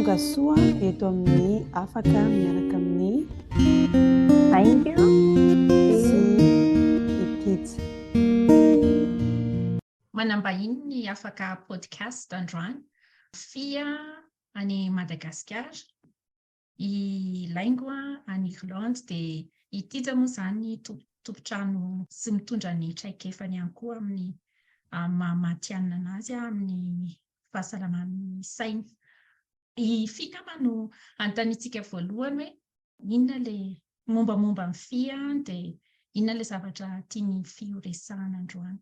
Tonga soa eto amin'ny afaka miaraka amin'ny Thank you. sy i Pizza. Manambahiny ny afaka podcast androany. Fia any Madagasikara. I Laingo any Irlande dia i Tija moa izany tompon-trano sy mitondra ny traikefany ihany koa amin'ny maha matihanina an'azy amin'ny fahasalaman'ny sainy. I Fia angamba no hanontaniantsika voalohany hoe inona ilay mombamomba an'i Fia dia inona ilay zavatra tian'i Fia horesahana androany.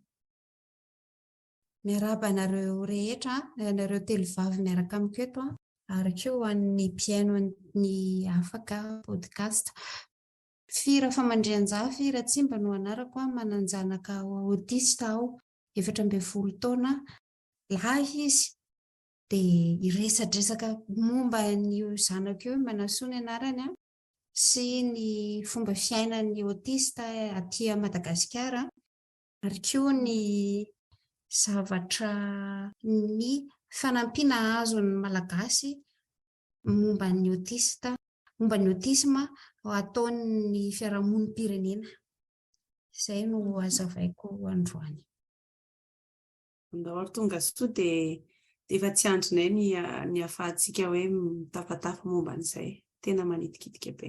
Miarahaba anareo rehetra, ianareo telo vavy miaraka amiko eto an, ary koa ho an'ny mpihaino ny afaka podcast. Fy Rafamandrianjafy Ratsimba no anarako an, manan-janaka autiste aho, efatra ambin'ny folo taona, lahy izy, dia hiresadresaka momba an'io zanako io i Manasoa ny anarany an, sy ny fomba fiainan'ny autiste aty Madagasikara. ary koa ny zavatra, ny fanampiana azon'ny Malagasy momba ny autiste, momba ny autisme ataon'ny fiarahamonim-pirenena. Izay no hazavaiko androany. Andao ary tonga soa dia dia efa tsy andrinay ny ny ahafahantsika hoe mitafatafa momba an'izay. Tena manitikitika be.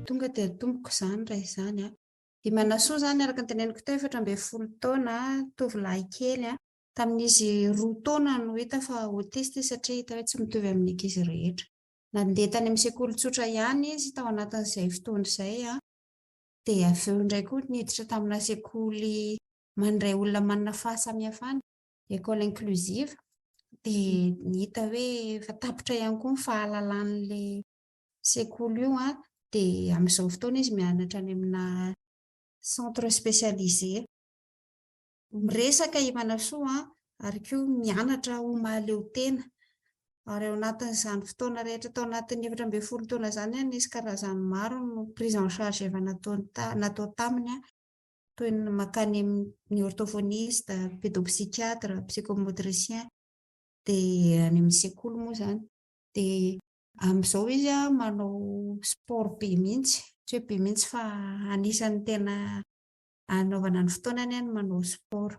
Tonga dia tompoko izany raha izany an! I Manasoa izany araka ny teneniko teo efatra ambin'ny folo taona, tovolahy kely an! Tamin'izy roa taona no hita fa autiste izy satria hita hoe tsy mitovy amin'ny ankizy rehetra. Nandeha tany amin'ny sekoly tsotra ihany izy tao anatin'izay fotoana izay an! Dia avy eo indray koa niditra tamina sekoly mandray olona manana fahasamihafana, école inclusive, dia hita hoe efa tapitra ihany koa ny fahalalan'ilay sekoly io an, dia amin'izao fotoana izy mianatra any amina centre spécialisé. Miresaka i Manasoa an, ary koa mianatra ho mahaleo tena. Ary ao anatin'izany fotoana rehetra tao anatin'ny efatra ambin'ny folo taona izany an, nisy karazany maro ny prise en charge efa nataony ta, natao taminy an, toy ny mankany amin'ny orthophoniste, pédopsychiatre, psychomotricien, dia any amin'ny sekoly moa izany dia Amin'izao izy manao sport be mihitsy, tsy hoe be mihitsy fa anisan'ny tena anaovana ny fotoanany ny manao sport.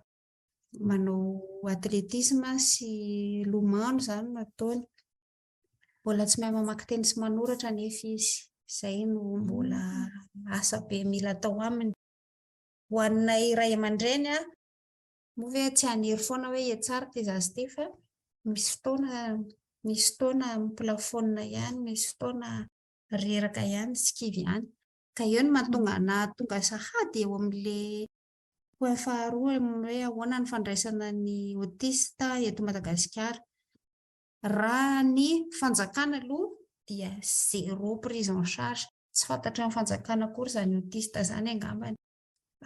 Manao athlétisme sy lomano izany no ataony. Mbola tsy mahay mamaky teny sy manoratra anefa izy. Izay no mbola asa be mila atao aminy. Ho anay ray aman-dreny, Moa ve tsy hanery foana hoe hihatsara ity zaza ity fa misy fotoana misy fotoana miplafonina ihany, misy fotoana reraka ihany sy kivy ihany. Ka eo no mahatonga ahy nahatonga sahady eo amin'ilay point faharoa amin'ny hoe ahoana ny fandraisana ny autiste eto Madagasikara. Raha ny fanjakana aloha dia zéro prise en charge. Tsy fantatry ny fanjakana akory izany autiste izany angambany.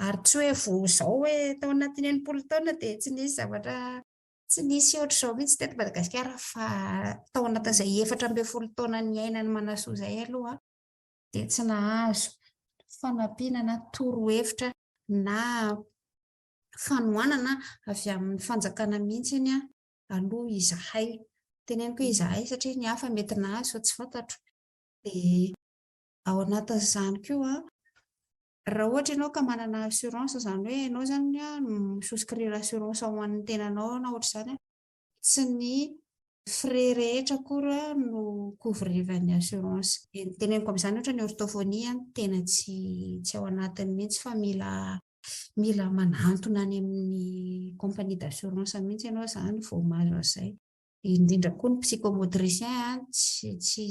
Ary tsy hoe vao izao hoe tao anatin'ny enimpolo taona dia tsy nisy zavatra tsy nisy ohatr'izao mihitsy teto Madagasikara fa tao anatin'izay efatra ambin'ny folo taona niainan'i Manasoa izay aloha dia tsy nahazo fanampiana na torohevitra na fanohanana avy amin'ny fanjakana mihitsiny aloha izahay. Teneniko hoe izahay satria ny hafa mety nahazo fa tsy fantatro. Dia ao anatin'izany koa Raha ohatra ianao ka manana assurance izany hoe ianao izany mi souscrire assurance ho an'ny tenanao na ohatr'izany, tsy ny frais rehetra akory no couvrivan'ny assurance. Dia ny teneniko amin'izany ohatra ny orthophonie tena tsy tsy ao anatiny mihitsy fa mila mila manantona any amin'ny compagnie d'assurance mihitsy ianao izany vao mahazo an'izay. Indrindra koa ny psychomotricien tsy tsy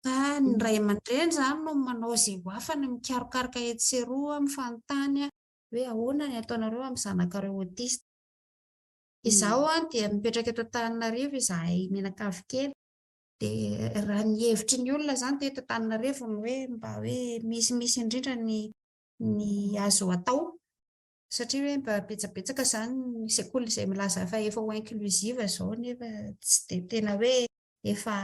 Fa ny ray aman-dreny izany no manao izay ho afany mikarokaroka etsy sy eroa, mifanontany hoe ahoana ny ataonareo amin'ny zanakareo autiste. Izaho dia mipetraka eto Antananarivo izahay mianakavy kely. Dia raha ny hevitry ny olona izany teto Antananarivo ny hoe mba hoe misimisy indrindra ny ny azo atao satria hoe mba betsabetsaka izany ny sekoly izay milaza fa efa ho inclusive izao nefa tsy dia tena hoe efa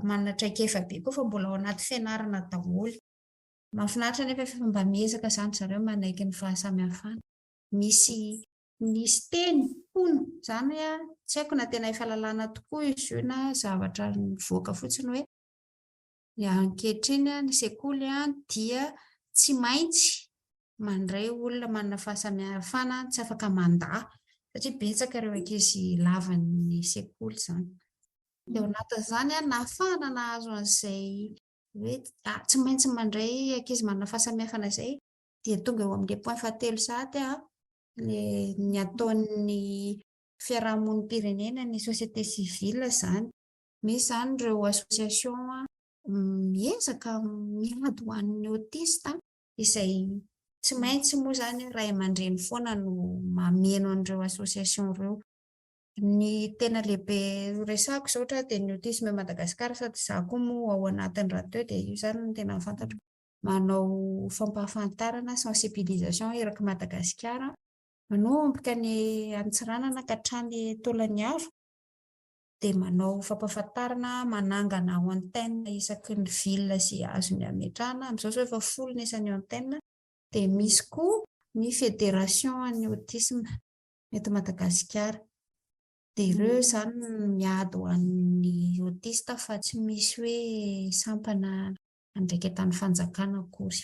manana traikefa be koa fa mbola ao anaty fianarana daholo. Mahafinaritra nefa efa mba miezaka izany zareo manaiky ny fahasamihafana. Misy nisy teny hono izany hoe tsy haiko na tena efa lalàna tokoa izy io na zavatra nivoaka fotsiny hoe Ankehitriny ny sekoly dia tsy maintsy mandray olona manana fahasamihafana tsy afaka mandà satria betsaka ireo ankizy lavan'ny sekoly izany. Dia ao anatin'izany nahafahana nahazo an'izay hoe tsy maintsy mandray ankizy manana fahasamihafana izay dia tonga eo amin'ny point fahatelo sahady ny ataon'ny fiarahamonim-pirenena ny société civile izany. Misy izany ireo association miezaka miady ho an'ny autiste izay tsy maintsy moa izany ray aman-dreny foana no mameno an'ireo association ireo. Ny tena lehibe resahako izao ohatra dia ny Autisme Madagascar sady izaho koa moa ao anatiny rahateo dia io izany no tena fantatro. Manao fampahafantarana, sensibilisation, erak'i Madagasikara manomboka any Antsiranana ka hatrany Tolagnaro. dia manao fampahafantarana manangana antenne isaky ny ville izay azony hametrahana, amin'izao izao efa folo ny isan'ny antenne, dia misy koa ny federation an'ny autisme eto Madagasikara, dia ireo izany no miady ho an'ny autiste fa tsy misy hoe sampana andraiketran'ny fanjakana akory.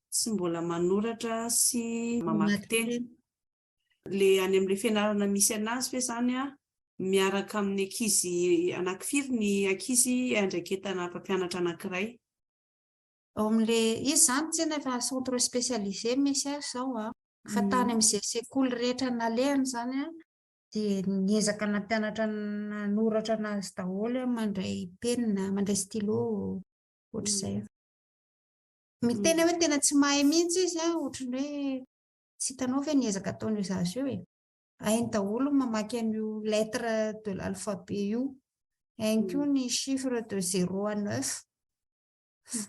Tsy mbola manoratra sy mamaky teny. Le any amle fianarana misy anazy ve zany a miaraka amin'ny ankizy anaky firy ny ankizy andraiketana mpampianatra anakiray? Ao amle izy zany tena efa centre specialise misy azy zao a. Fa tany amze sekoly rehetra nalehany zany a de niezaka nampianatra nanoratra anazy daholo hoe mandray penina, mandray stylo, ohatr'izay. Miteny hoe tena tsy mahay mihitsy izy a, ohatran'ny hoe tsy hitanao ve ny ezaka ataon'io zaza io e. Hainy daholo ny mamaky an'io lettre de l'alphabet io, hainy koa ny chiffre de zéro à neuf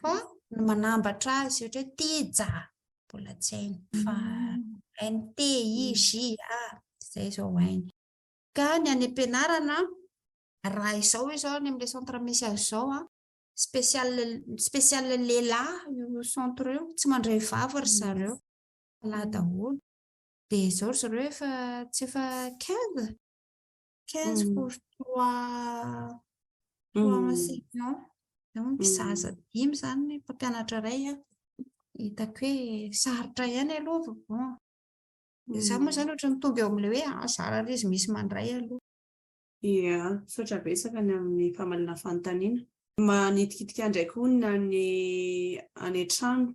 fa ny manambatra azy ohatra hoe tija mbola tsy hainy fa hainy T, I, J, A, izay izao hainy. Ka ny any am-pianarana raha izao izao any amin'ilay centre misy azy izao a, spécial spécial lehilahy io centre io tsy mandray vava ry zareo lahy daholo dia izao ry zareo efa tsy efa quinze quinze pour trois trois enseignants izao mpizaza dimy izany ny mpampianatra iray a hitako hoe sarotra ihany aloha vao bon za moa izany ohatra mitombo eo amin'ilay hoe zara izy misy mandray aloha Ia, misaotra betsaka ny amin'ny famalinà fanontaniana. Manitikitika ndraiky honina ny any an-trano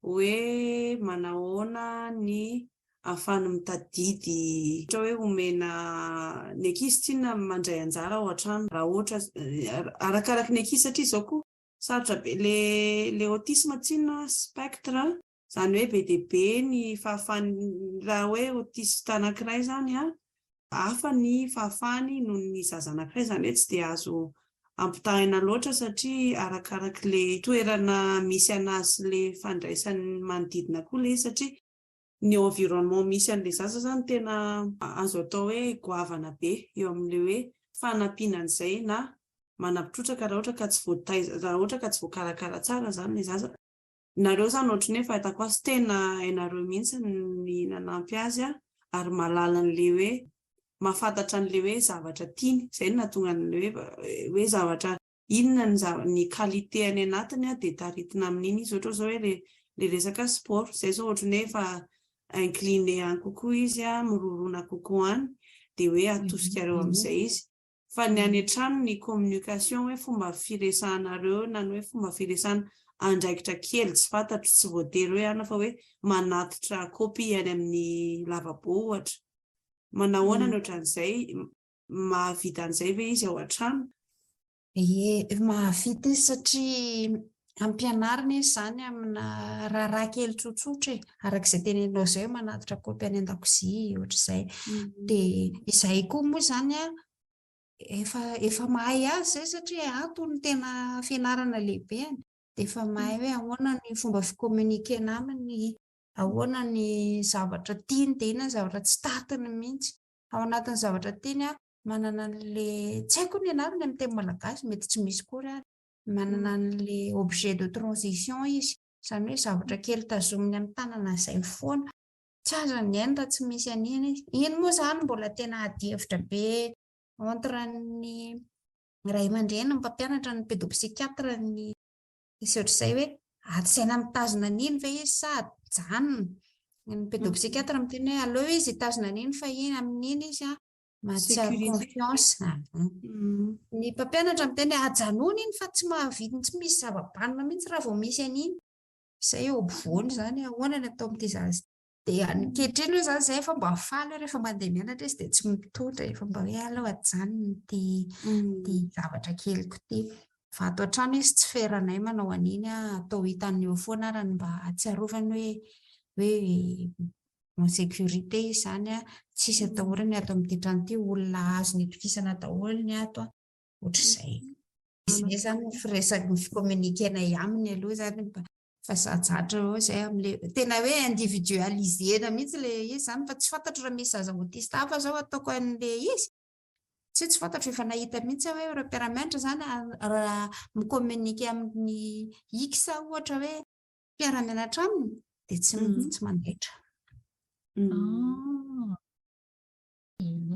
hoe manahoana ny ahafahany mitadidy ohatra hoe omena ny ankizy tsinona mandray anjara ao an-trano raha ohatra arakaraky ny ankizy satria izao koa sarotra be le le autisme tsinona spectre a. Izany hoe be dia be ny fahafahany, raha hoe autiste anankiray izany an, hafa ny fahafahany noho ny zaza anankiray, izany hoe tsy dia azo ampitahaina loatra satria arakaraka ilay toerana misy an'azy sy ilay fandraisan'ny manodidina koa ilay izy satria ny environnement misy an'ilay zaza izany tena azo atao hoe goavana be eo amin'ilay hoe fanampiana an'izay na manampitrotraka raha ohatra ka tsy voataiza, raha ohatra ka tsy voakarakara tsara izany ilay zaza. Nareo zany ohatry ny hoe fahitako azy tena hainareo mihitsy ny nanampy azy a, ary mahalala an'le hoe mahafantatra an'le hoe zavatra tiany, izay no nahatonga an'le hoe hoe zavatra inona ny zava- ny qualité any anatiny a dia taritina amin'iny izy, ohatra zao hoe le le resaka sport, zay zao ohatry ny hoe efa incliné any kokoa izy a, mirorona kokoa any, dia hoe atosikareo amin'izay izy. Fa ny any an-trano ny communication hoe fomba firesahanareo eo na ny hoe fomba firesana andraikitra kely tsy fantatro, tsy voatery hoe ana fa hoe manatitra copie any amin'ny lavabo ohatra. Manahoana ny ohatran'izay? Mahavita an'izay ve izy ao an-trano? Ie, mahavita izy satria Ampianarina izy izany amina raharaha kely tsotsotra e, araka izay teneninao izay hoe manatitra kopy any an-dakozia, ohatr'izay. Mm. Dia izahay koa moa izany a, efa efa mahay azy izay satria antony tena fianarana lehibeny. Dia efa mahay hoe ahoana ny fomba fikominikena aminy, ahoana ny zavatra tiany, dia inona ny zavatra tsy tatiny mihitsy. Ao anatin'ny zavatra tiany a, manana an'ilay tsy haiko ny anarany amin'ny teny malagasy, mety tsy misy koa ary. Manana an'ilay objet de transition izy, izany hoe zavatra kely tazominy amin'ny tanana izay mifoana. Tsy azony ny ainy raha tsy misy an'iny izy. Iny moa izany mbola tena adihevitra be entre ny ray aman-dreny, ny mpampianatra, ny pédopsychiatre, ny sy ohatr'izay hoe ady saina mitazona an'iny ve izy sa ajanony. Ny pédopsychiatre miteny hoe aleo izy hitazona an'iny fa iny, amin'iny izy an, Mahatsiaro confiance. Ah bon. Mm. Ny mpampianatra miteny ajanony iny fa tsy mahavitiny tsy misy zava-banona mihitsy raha vao misy an'iny. Izay eo ampovoany izany ahoana ny atao amin'ity zaza. Dia ankehitriny hoe izany izay efa mba faly rehefa mandeha mianatra izy dia tsy mitondra efa mba hoe alao ajanony ity mm. ty zavatra keliko ity. Fa ato an-trano izy tsy feranay manao an'iny atao hitan'ny eo foana arany mba atsiarovany hoe hoe en sécurité izany an, tsisy atahorany ato amin'ity trano ity, olona azony itokisana daholo ny ato an, ohatr'izay. Izy ve zany ny firesaka ny fi-communiquer-nay aminy aloha izany mba fa zajatra eo izay amin'ilay tena hoe individualiser-na mihitsy ilay izy izany fa tsy fantatro raha misy zaza autiste hafa izao ataoko an'ilay izy satria tsy fantatro efa nahita mihitsy aho hoe ireo mpiara-mianatra izany raha mi-communiquer amin'ny X ohatra hoe mpiara-mianatra aminy dia tsy tsy mandaitra.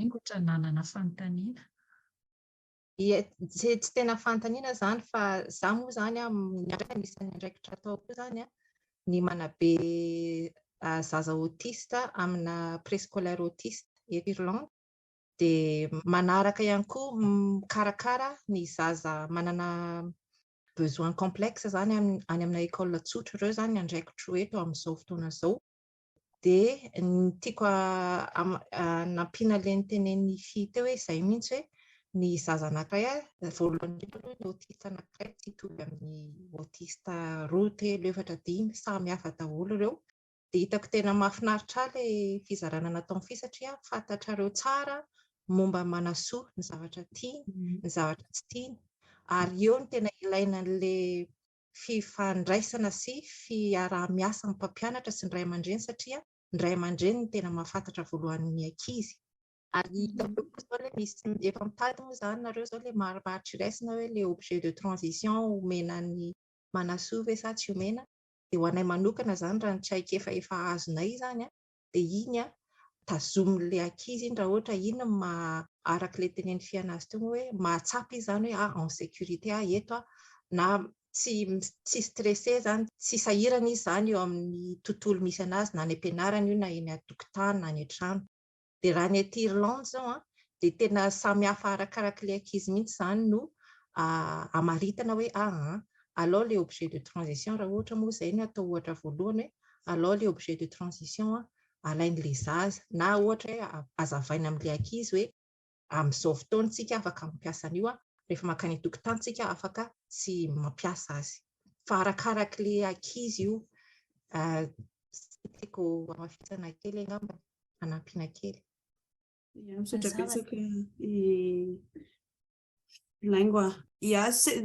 Ingotra nanana fanontaniana. Tsy tena fanontaniana izany fa za moa izany anisan'ny andraikitra ataoko izany ny manabe zaza autiste amina préscolaire autiste eto Irlande dia manaraka ihany koa mikarakara ny zaza manana besoin complexe zany any amina école tsotra ireo zany andraikitro eto amin'izao fotoana izao dia ny tiako nampiana le ny tenen'ny fy teo hoe izay mihitsy hoe ny zaza anankiray voalohany indrindra aloha ny autiste anankiray tsy hitovy amin'ny autiste roa telo efatra dimy samy hafa daholo ireo Dia hitako tena mahafinaritra ahy ilay fizarana nataony fy satria fantatrareo tsara momba an'i Manasoa, ny zavatra tiany, ny zavatra tsy tiany. Ary eo no tena ilaina an'ilay fifandraisana sy fiaraha-miasa amin'ny mpampianatra sy ny ray aman-dreny satria ny ray aman-dreny no tena mahafantatra voalohany ny ankizy. Ary hitanareo koa izao ilay misy, efa mitady moa izany nareo izao ilay marimaritr'iraisana hoe ilay objet de transition omena an'i Manasoa ve sa tsy omena. dia ho anay manokana izany raha ny traikefa efa azonay izany an, dia iny an, tazomin'ilay ankizy iny raha ohatra iny no maha, araka ilay tenenin'i Fiana azy teo hoe mahatsapa izy izany hoe ah en sécurité aho eto an, na tsy tsy stressé izany, tsy sahirana izy izany eo amin'ny tontolo misy an'azy na any am-pianarana io na eny an-tokotany na any an-trano. dia raha ny aty Irlande izao an, dia tena samy hafa arakaraka ilay ankizy mihitsy izany no amaritana hoe aa, alao ilay objet de transition raha ohatra moa izay no atao ohatra voalohany hoe alao ilay objet de transition alain'ilay zaza na ohatra hoe azavaina amin'ilay ankizy hoe amin'izao fotoana isika afaka mampiasa an'io, rehefa mankany an-tokotany isika afaka tsy mampiasa azy. Fa arakaraka ilay ankizy io. Izay no tiako hamafisana kely angambany. hanampiana kely. Ia, misaotra betsaka i Laingo ah. Ia,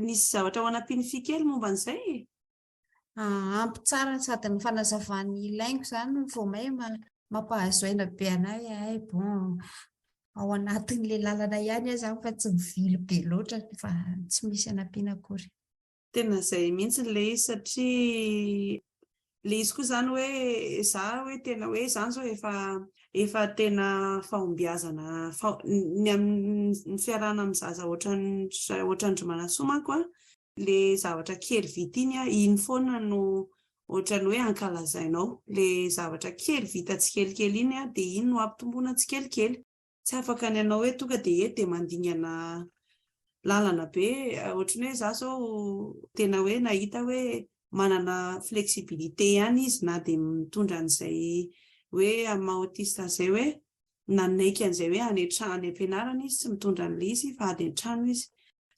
nisy zavatra ho hanampian'i Fy kely momba an'izay e? Ah, ampy tsara sady ny fanazavan'i Laingo izany vao may mampahazo aina be anay ay bon ao anatin'ilay lalana ihany aho izany fa tsy mivily be loatra fa tsy misy hanampiana akory. Tena izay mihitsy ilay izy satria ilay izy koa izany hoe za hoe tena hoe izany izao efa efa tena fahombiazana ny amin'ny fiarahana amin'ny zaza ohatran-dry Manasoa manko an, ilay zavatra kely vita iny an, iny foana no ohatran'ny hoe ankalazainao, ilay zavatra kely vita tsikelikely iny an, dia iny no ampitomboina tsikelikely. tsy afaka ny hanao hoe tonga dia eto dia mandingana lalana be ohatry ny hoe za zao tena hoe nahita hoe manana flexibilité ihany izy na dia mitondra an'izay hoe amin'ny maha autiste azy izay hoe nanaiky an'izay hoe any an-trano any am-pianarana izy tsy mitondra an'ilay izy fa ady an-trano izy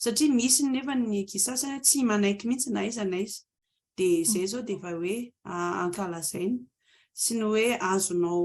satria misy nefa ny ankizy sasany hoe tsy manaiky mihitsy na iza na iza dia izay izao dia efa hoe ankalazaina sy ny hoe azonao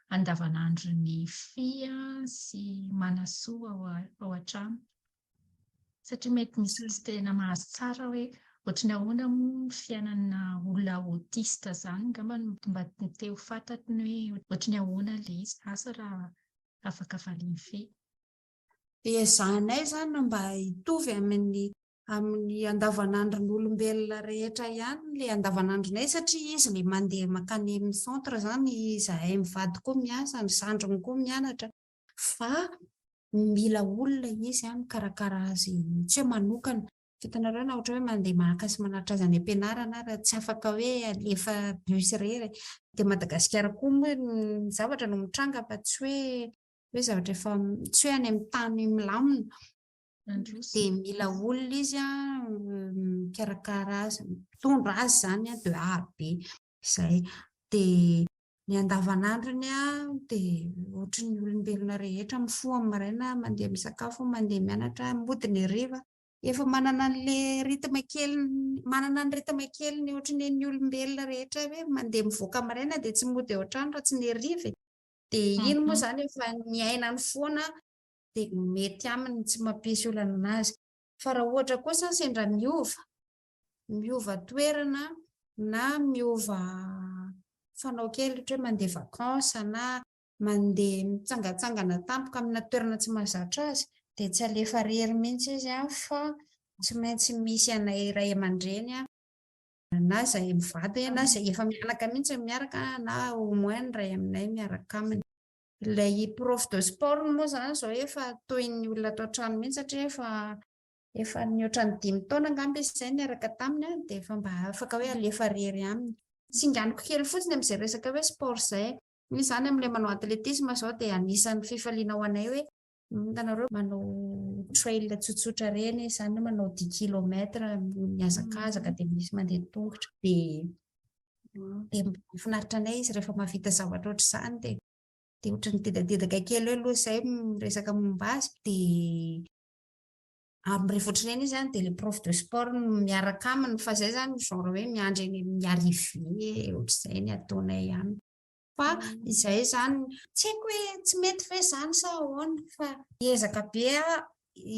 andavanandron'ny fia sy manasoa ao an-trano satria mety misy tsy tena mahazo tsara hoe ohatran'ny ahoana moa ny fiainana olona autiste izany angamba no mba te ho fantatro ny hoe ohatran'ny ahoana ilay izy, asa raha afaka valian'i Fia. Dia ezahanay izany mba hitovy amin'ny amin'ny andavanandron'olombelona rehetra ihany ilay andavanandronay satria izy ilay mandeha mankany amin'ny centre izany, izahay mivady koa miasa, ny zandriny koa mianatra fa mila olona izy mikarakara azy tsy hoe manokana. Hitanareo na ohatra hoe mandeha maka sy manatitra azy any am-pianarana ary tsy afaka hoe alefa bus irery. Aty Madagasikara koa moa ny zavatra no mitranga fa tsy hoe hoe zavatra efa tsy hoe any amin'ny tany milamina. dia mila olona izy a mikarakara azy mitondra azy zany a de aro be izay dia ny andavanandrony a dia ohatry ny olombelona rehetra mifoha amin'ny maraina mandeha misakafo mandeha mianatra mody ny hariva efa manana an'le rythme kely manana ny rythme kely ny ohatry ny ny olombelona rehetra hoe mandeha mivoaka maraina dia tsy mody ao an-trano raha tsy ny hariva e. dia iny moa mhm. zany efa ny ainany foana dia mety aminy tsy mampisy olana anazy fa raha ohatra kosa sendra miova miova toerana na miova fanao kely ohatra hoe mandeha vacances na mandeha mitsangatsangana tampoka amina toerana tsy mahazatra azy dia tsy alefa rery mihitsy izy an fa tsy maintsy misy anay ray aman-dreny an na izay mivady na izay efa mianaka mihitsy miaraka na au moins ny ray aminay miaraka aminy. Ilay prof de sport moa izany izao efa toy ny olona ato an-trano mihitsy satria efa efa nihoatra ny dimy taona angamba izy izay niaraka taminy dia efa mba afaka hoe alefa irery aminy. Singaniko kely fotsiny amin'izay resaka hoe sport izay. Misy izany amin'ilay manao atletisme izao dia anisan'ny fifaliana ho anay hoe Hitanareo manao trail tsotsotra ireny, izany hoe manao dix kilomètres mihazakazaka dia misy mandeha tongotra. Dia dia mahafinaritra anay izy rehefa mahavita zavatra ohatr'izany dia dia ohatran'ny dedadedaka kely hoe aloha izay miresaka momba azy dia ary rehefa ohatr'ireny izy any dia le prof de sport no miaraka aminy fa izay izany genre hoe miandry any amin'ny arrivée ohatr'izay ny ataonay aminy. Fa izay izany, tsy haiko hoe tsy mety ve izany sa ahoana fa ezaka be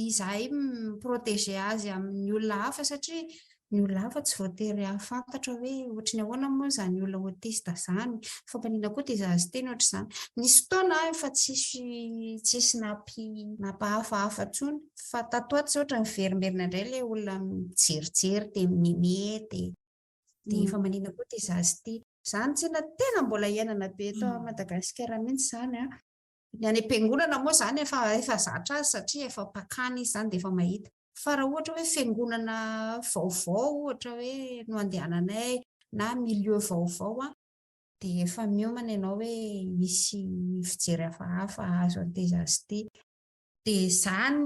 izahay mi-protéger azy amin'ny olona hafa satria ny olona hafa tsy voatery hahafantatra hoe ohatry ny ahoana moa izany olona autiste izany, fampaniana koa dia zaza teny ohatry izany. Nisy fotoana aho efa tsisy tsisy nampi nampahafahafa intsony fa tato ho ato izao ohatry ny niverimberina indray ilay olona mijerijery dia mi-meme dia. Dia efa maninona koa ity zaza ity. Izany tena tena mbola iainana be eto Madagasikara mihitsy izany an! Ny any am-piangonana moa izany efa efa zatra azy satria efa mpakany izy izany dia efa mahita. Fa raha ohatra hoe fiangonana vaovao ohatra hoe no andehananay na milieu vaovao an, dia efa miomana ianao hoe hisy fijery hafahafa hahazo an'ity zaza ity. Dia izany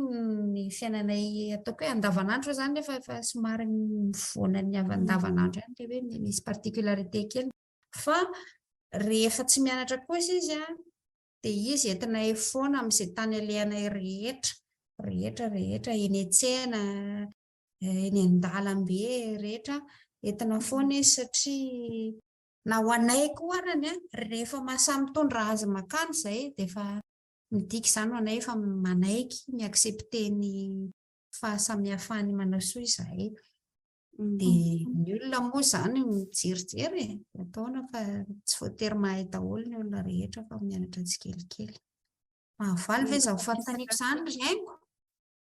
ny fiainanay ataoko hoe andavanandro izany nefa efa somary mivoana ny avy andavanandro ihany ilay hoe misy particularité kely. Fa rehefa tsy mianatra kosa izy an, dia izy entinay foana amin'izay tany alehanay rehetra, rehetra, rehetra, eny an-tsena, eh, eny an-dalambe, rehetra, entina foana izy satria na ho anay koa arany an, rehefa mahasamitondra azy makany izay dia efa Midika izany ho anay fa manaiky mi-accepter ny fahasamihafan'ny manao soa izahay. Dia ny olona moa izany mijerijery e, ataona fa tsy voatery mahay daholo ny olona rehetra fa mianatra tsikelikely. Mahavaly ve izany fanontaniako izany ry aingo?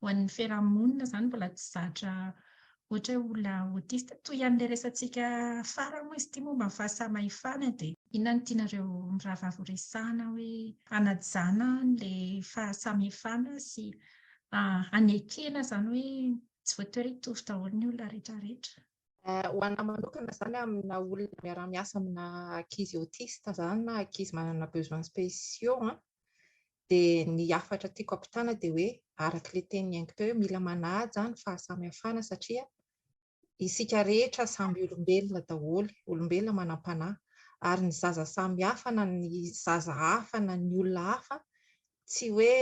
Ho an'ny fiarahamonina izany mbola tsy zatra ohatra hoe olona autiste. Toy ihany ilay resatsika farany moa izy ity momba ny fahasamahifana dia. Inona no tianareo mirahavavy ho resahana hoe hanajana an'ilay fahasamihfana sy hanekena izany hoe tsy voatery hitovy daholo ny olona rehetra rehetra? Ho an'ahy manokana izany amina olona miara-miasa amina ankizy autiste izany na ankizy manana besoins spéciaux an, Dia ny hafatra tiako hampitana dia hoe araka ilay teny niaingo teo hoe mila manaja ny fahasamihafana satria isika rehetra samby olombelona daholo, olombelona manam-panahy ary ny zaza samy hafa na ny zaza hafa na ny olona hafa tsy hoe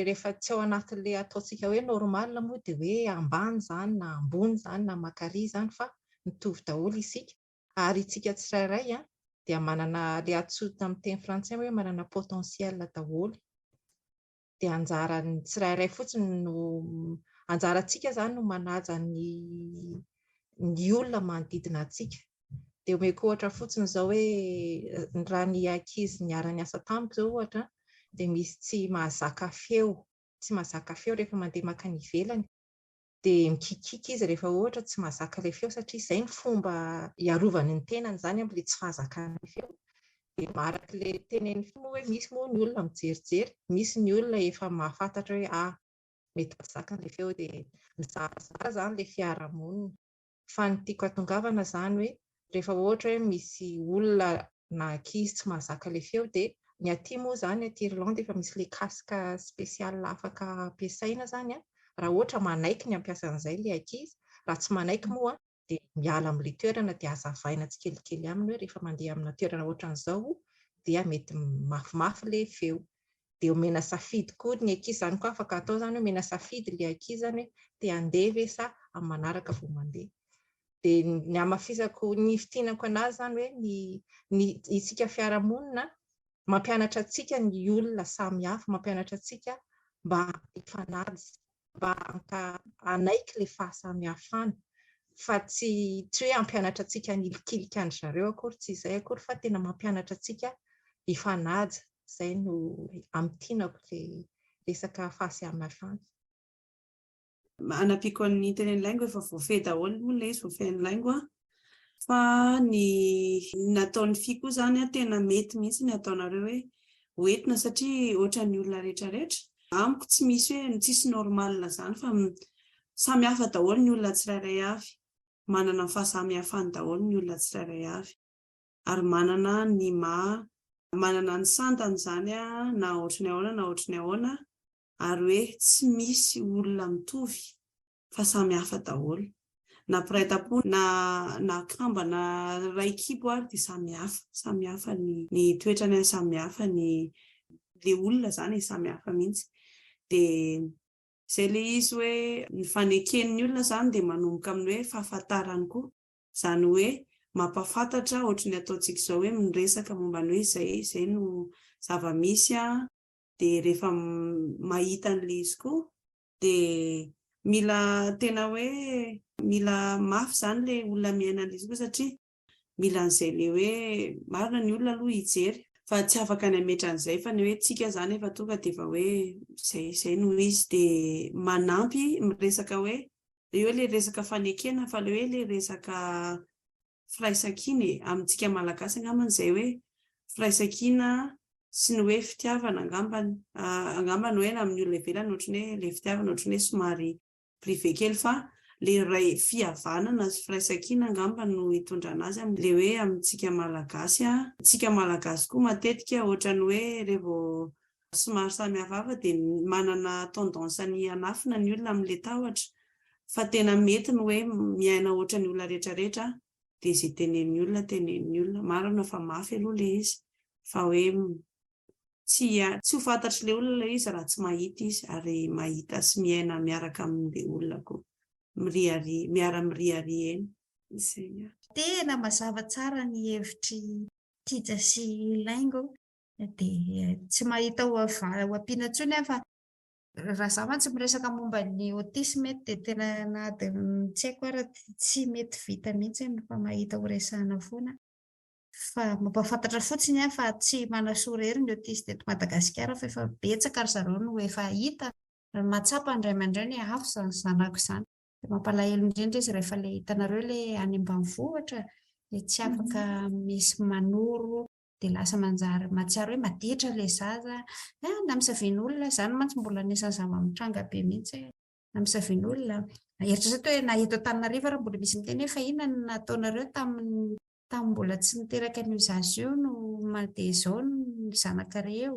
rehefa tsy ao anatin'ilay ataontsika hoe normal moa dia hoe ambany izany na ambony izany na mankaria izany fa mitovy daholo isika. Ary isika tsirairay dia manana ilay antsoina tamin'ny teny frantsay hoe manana potentiel daholo. Dia anjaran'ny tsirairay fotsiny no anjarantsika izany no manaja ny ny olona manodidina antsika. Dia omeko ohatra fotsiny izao hoe raha ny ankizy niara-niasa tamiko izao ohatra dia misy tsy mahazaka feo, tsy mahazaka feo rehefa mandeha mankany ivelany. dia mikikiaka izy rehefa ohatra tsy mahazaka ilay feo satria izay ny fomba hiarovany ny tenany izany amin'ilay tsy fahazakan'ny feo. Dia araka ilay tenenin'ny feo moa hoe misy moa ny olona mijerijery, misy ny olona efa mahafantatra hoe ah, mety tsy zakan'ilay feo dia mizara zara izany ilay fiarahamonina. fa ny tiako atongavana zany hoe rehefa ohatra hoe misy olona na ankizy tsy mahazaka le feo de ny aty moa zany aty Irlande efa misy le casque spécial afaka ampiasaina zany an raha ohatra manaiky ny hampiasa an'izay le ankizy, raha tsy manaiky moa de miala amle toerana de azavaina tsikelikely aminy hoe rehefa mandeha amina toerana ohatran'izao dia mety mafimafy le feo. dia omena safidy koa ny ankizy, izany koa afaka atao izany hoe omena safidy ilay ankizy izany hoe te handeha ve sa amin'ny manaraka vao mandeha. Dia ny hamafisako, ny hifintinako an'azy izany hoe ny ny isika fiarahamonina mampianatra antsika ny olona samihafa, mampianatra antsika mba hifanaja. mba haka hanaiky ilay fahasamihafana fa tsy tsy hoe hampianatra antsika hanilikilika an-dry zareo akory, tsy izay akory fa tena mampianatra antsika hifanaja, izay no amin'ny tinako ilay resaka fahasamihafana. Hanampiako an'ny Italian Language fa voafehy daholo moa ilay izy, voafehin'ny Laingo an! fa ny nataon'ny fy koa zany a tena mety mihitsy ny ataonareo hoe ho entina satria ohatran'ny olona rehetra rehetra amiko tsy misy hoe ny tsisy normal zany fa samy hafa daholo ny olona tsirairay avy manana ny fahasamihafany daholo ny olona tsirairay avy ary manana ny ma manana ny santany zany a na ohatry ny ahoana na ohatry ny ahoana ary hoe tsy misy olona mitovy fa samy hafa daholo na mpiray tampo na na kamba na ray kibo ary dia samy hafa samy hafa ny ny toetrany ary samy hafa ny le olona zany e, samy hafa mihitsy dia zay le izy hoe ny faneken'ny olona zany dia manomboka amin'ny hoe fahafantarany koa zany hoe mampafantatra ohatry ny ataontsika izao hoe miresaka momba ny hoe izay izay no zava-misy a dia rehefa mahita an'le izy koa dia mila tena hoe mila mafy izany ilay olona miaina an'ilay izy koa satria mila an'izay ilay hoe marina ny olona aloha hijery fa tsy afaka ny hametra an'izay fa ny hoe tsika izany efa tonga dia efa hoe izay izay no izy dia manampy miresaka hoe eo ilay resaka fanekena fa ilay hoe ilay resaka firaisankina e, amintsika malagasy angambany izay hoe firaisankina sy ny hoe fitiavana angambany, angamba ny hoe na amin'ny olona ivelany ohatran'ny hoe ilay fitiavana ohatran'ny hoe somary privé kely fa ilay ray fihavanana sy firaisankina angambany no itondrana azy amin'ilay hoe amintsika malagasy, tsika malagasy koa matetika ohatran'ny hoe revo somary samy hafahafa dia manana tendance ny hanafina ny olona amin'ilay tahotra fa tena mety ny hoe miaina ohatran'ny olona rehetra rehetra aho dia izay tenenin'ny olona tenenin'ny olona marina fa mafy aloha ilay izy fa hoe tsy tsy ho fantatr'ilay olona ilay izy raha tsy mahita izy ary mahita sy miaina miaraka amin'ilay olona koa miriari miara miriari eny izay tena mazava tsara ny hevitry Tija sy Laingo Dia tsy mahita ho ampiana intsony aho fa raha za mantsy miresaka momba ny autisme eto dia tena nady tsy haiko ary tsy mety vita mihitsy ny mifamahita ho resahana foana. Fa mampahafantatra fotsiny aho fa tsy manasoa irery ny autiste eto Madagasikara fa efa betsaka ry zareo no efa hita ary mahatsapa ny ray aman-dreny hoe avy izany zanako izany. Dia mampalahelo indrindra izy rehefa ilay hitanareo ilay any ambanivohitra dia tsy afaka misy manoro dia lasa manjary mahatsiaro hoe maditra ilay zaza, ah, na misavian'olona, izany mantsy mbola anisan'ny zava-mitranga be mihitsy, na misavian'olona, eritrereto hoe na eto Antananarivo ary mbola misy miteny hoe fa inona no nataonareo tamin'ny tamin'ny mbola tsy niteraka an'io zaza io no mandeha izao ny zanakareo,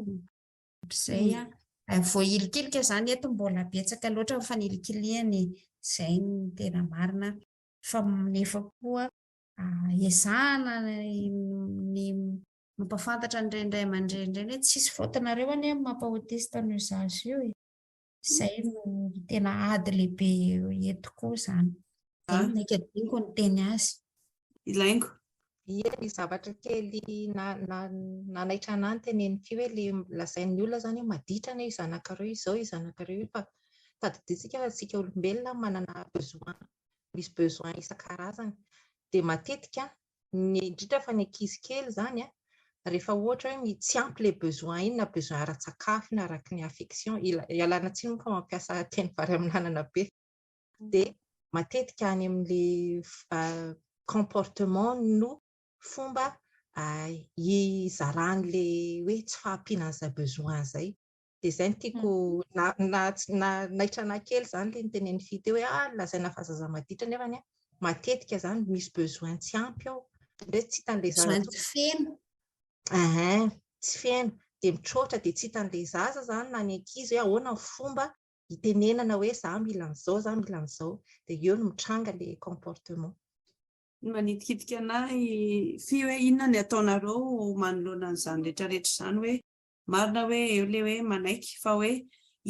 izay an. Mm. Voahilikilika izany eto mbola betsaka loatra ny fanilikilihany, izay ny tena marina, fa nefa koa ezahana ny mampafantatra an'ireny ray aman-dreny ireny hoe tsisy faotinareo anie amin'ny maha autiste an'io zaza io e. Izay no tena ady lehibe eto koa izany. Dia ah. maika diniko ny teny azy. Ilaingo. Ie ny zavatra kely nanaitra na, ny teneny ity hoe le lazain'ny olona izany hoe maditra anie io zanakareo izao io zanakareo io fa tadidintsika fa tsika olombelona manana besoin misy besoin isan-karazany dia matetika ny indrindra fa ny ankizy kely izany a, rehefa ohatra hoe tsy ampy ilay besoin iny na besoin ara-tsakafo na araka ny affection, ialana tsiny moa fa mampiasa teny vary amin'anana be, dia matetika any amin'ilay comportement no fomba hizaràn'ilay hoe tsy fahampiana an'izay besoin izay. Dia izay no tiako na na na naitranahy kely izany ilay nitenen'i Fy teo hoe ah lazaina fa zaza maditra nefany a matetika izany misy besoin tsy ampy ao. Ndray tsy hitan'ilay zaza. Besoin tsy feno. Ehe, tsy feno. Dia mitroatra dia tsy hitan'ilay zaza izany na ny ankizy hoe ahoana ny fomba hitenenana hoe za mila an'izao, za mila an'izao. Dia eo no mitranga ilay comportement. Manitikitika anà i Fy hoe inona ny ataonareo manoloana an'izany rehetrarehetra izany hoe Marina hoe eo le hoe manaiky fa hoe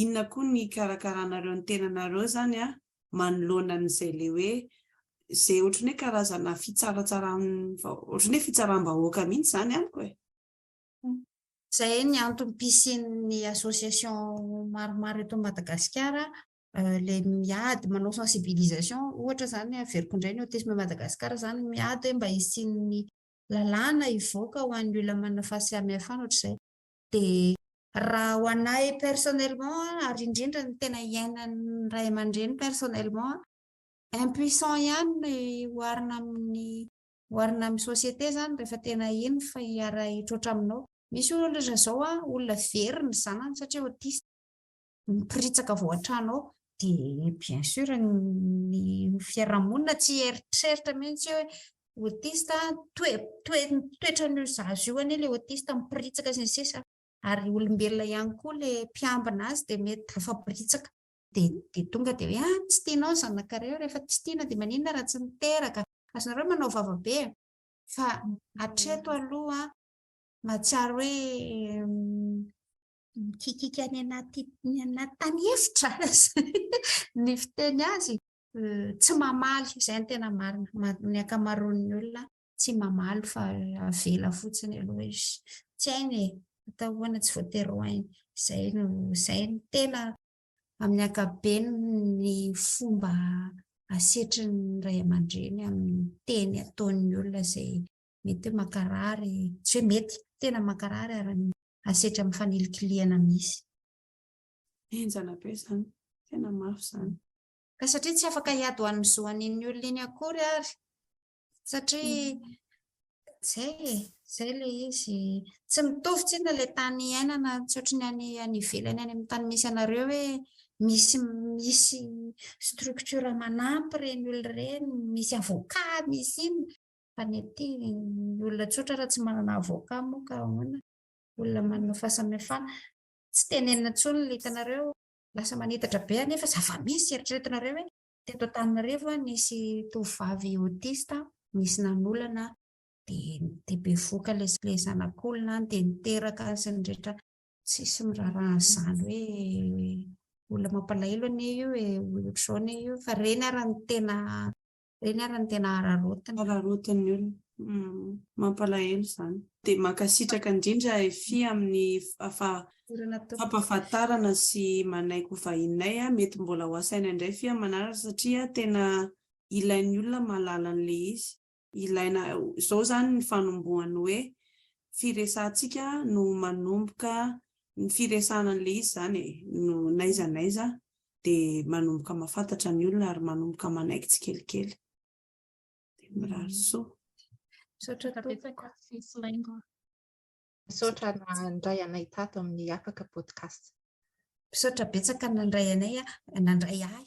inona koa ny hikarakaranareo ny tenanareo zany an manoloana an'izay le hoe ze otrany hoe karazana fitsaratsaram otrany hoe fitsarambahoaka mihitsy zany amiko e. Zay ny antony pisian'ny association maromaro eto Madagasikara le miady manao sensibilisation ohatra zany averiko indray ny autisme Madagasikara zany miady hoe mba hisian'ny lalàna hivoaka ho an'ny olona manana fahasamihafana ohatr'izay dia raha ho anay personnellement ary indrindra ny tena iainan'ny ray aman-dreny personnellement impuissant ihany ny oharina amin'ny oharina amin'ny société izany rehefa tena iny fa hiara-hitroatra aminao, misy olona izao olona very ny zanany satria autiste. ny piritsaka vao an-trano ao dia bien sûr ny fiarahamonina tsy hieritreritra mihitsy hoe autiste toe toe toetrany io zaza io anie le autiste mipiritsaka sy ny sisa ary olombelona ihany koa le mpiambina azy dia mety tafapiritsaka dia dia tonga dia hoe ah tsy tianao ny zanakareo rehefa tsy tiana dia maninona raha tsy miteraka azonareo manao vavabe fa atreto aloha mahatsiaro hoe Mikikika any anaty ny anaty tany efitra ny fiteny azy. Tsy mamaly, izay ny tena marina. Ny ankamaroan'ny olona tsy mamaly fa avela fotsiny aloha izy. Tsy hainy e, atao ahoana tsy voatery ho hainy. Izay no izay no tena amin'ny ankapobeny ny fomba asetrin'ny ray aman-dreny amin'ny teny ataon'ny olona izay mety hoe mankarary, tsy hoe mety, tena mankarary ary ny asetra amin'ny fanilikilihana misy. Henjana be izany, tena mafy izany. Ka satria tsy afaka hiady ho an'ny zo an'iny olona iny akory ary, satria mm. zay e, zay le izy. Tsy mitovy tsina le tany iainana tsotra ny any any ivelany any amin'ny tany misy anareo hoe misy misy structure manampy ireny olona ireny, misy avocat, misy inona. Fa ny aty ny olona tsotra raha tsy manana avocat moa ka ahoana? Olona manana fahasamihafana. Tsy tenenina intsony ny hitanareo. Lasa manitatra be anefa zava-misy. Eritreretinareo hoe teto Antananarivo nisy tovovavy autiste nisy nanolana dia dia bevoka ilay ilay zanak'olona any dia niteraka any sy ny rehetra. Tsisy miraharaha an'izany hoe olona mampalahelo anie io e, ohatr'izao anie io. Fa ireny ary no tena Ireny ary no tena hararaotiny. Hararaotin'ny olona. Mampalahelo izany. Dia mankasitraka indrindra Fy amin'ny fampahafantarana sy manaiky ho vahininay a, mety mbola ho asaina indray Fy amin'ny manaraka satria tena ilain'ny olona mahalala an'ilay izy. Ilaina izao izany ny fanombohan'ny hoe firesahantsika no manomboka ny firesahana an'ilay izy izany e, no n'aiza n'aiza dia manomboka mahafantatra ny olona ary manomboka manaiky tsikelikely. Dia mirary soa. Misaotra tompoko. Misaotra nandray anay tato amin'ny Afaka Podcast. Misaotra betsaka nandray anay, nandray ahy.